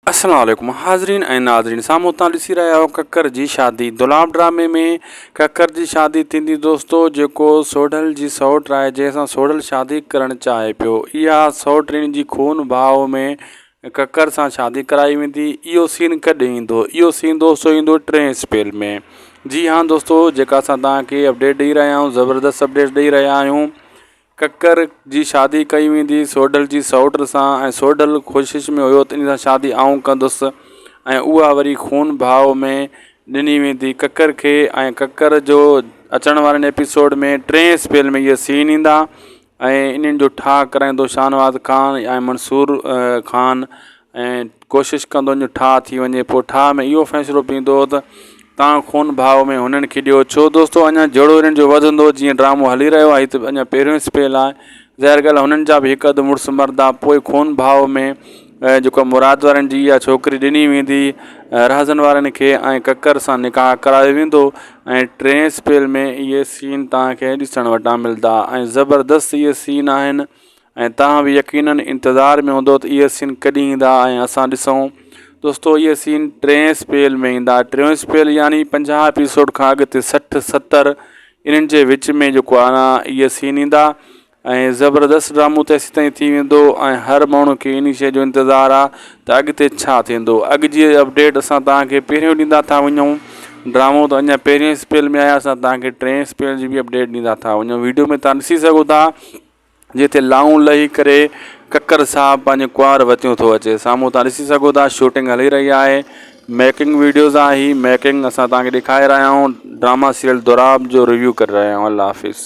السلام عليڪم حاضرين ۽ ناظرين سامهون تان ڏسي رهيا آهيو ڪڪر جي شادي دولاب ڊرامي ۾ ڪڪر جي شادي ٿيندي دوستو جيڪو سوڍل جي سئوٽ آهي جنهن سان سوڍل شادي ڪرڻ چاهي پيو اها سئوٽڻي جي خون ڀاء ۾ ڪڪر سان شادي ڪرائي ويندي اهو سين ڪڏهن ايندو اهو سين دوستو ايندو ٽئين اسپيل ۾ جي هان دوستو جيڪا اسان توهان کي اپڊيٽ ڏئي رهيا آهيون زبردست اپڊيٽ ڏئي رهيا آهيون ڪڪر جي شادي ڪئي ويندي سوڍل جي سئوٽ سان ۽ سوڍل ڪوشش ۾ هيو ته ان سان شادي آئون ڪندس ۽ اها وري خون ڀاء ۾ ڏني ويندي ڪڪر کي ۽ ڪڪر جو اچڻ وارين ايپيسوڊ ۾ ٽئين اسپيل ۾ اهي سين ايندا ۽ انهن جو ٺاهه ڪرائيندو شاهنواز خان ۽ منصور خان ۽ ڪوشش ڪندو جو ٺاهه ٿي وڃي. پوء ٺاهه ۾ اهو فيصلو پيندو هو ته تان خون ڀاء ۾ هنن کي ڏيو. ڇو دوستو اڃا جهيڙو انهن جو وڌندو جيئن ڊرامو هلي رهيو آهي هي ته اڃا پهريون اسپيل آهي. ظاهر ڳالهه هنن جا به هڪ اڌ مڙس مردا. پوء خون ڀاء ۾ جيڪو مراد وارن جي اها ڇوڪري ڏني ويندي رهزن وارن کي ۽ ڪڪر سان نڪاح ڪرايو ويندو ۽ ٽئين اسپيل ۾ اهي سين تان کي ڏسڻ وٽان ملدا ۽ زبردست اهي سين آهن ۽ توهان به يقينن انتظار ۾ هوندو ته اهي سين ڪڏهن ايندا ۽ اسان ڏسون دوستو اهي سين ٽئين اسپيل ۾ ايندا ٽيون اسپيل يعني پنجاهه ايپيسوڊ کان اڳتي سٺ ستر انهن جي وچ ۾ جيڪو آنا اهي سين ايندا ۽ زبردست ڊرامو ته ايسي تائين ٿي ويندو ۽ هر ماڻهو کي انهي شيء جو انتظار آ ته اڳتي ڇا ٿيندو اڳ جي اپڊيٽ اسان توهان کي پهريون ڏيندا ٿا وڃون ڊرامو ته اڃا پهرين اسپيل ۾ آهي اسان توهان کي ٽئين اسپيل جي به اپڊيٽ ڏيندا ٿا وڃون ويڊيو ۾ توهان ڏسي سگهو ٿا جنهن تي لائون لهي ڪري ڪڪر صاحب پنهنجي ڪنوار وتيون ٿو اچي سامهون توهان ڏسي سگهو ٿا شوٽنگ هلي رهي آهي ميڪنگ ويڊيوز آهي هي ميڪنگ اسان توهان کي ڏيکاري رهيا آهيون ڊراما سيريل دوراب جو ريويو ڪري رهيا آهيون الله حافظ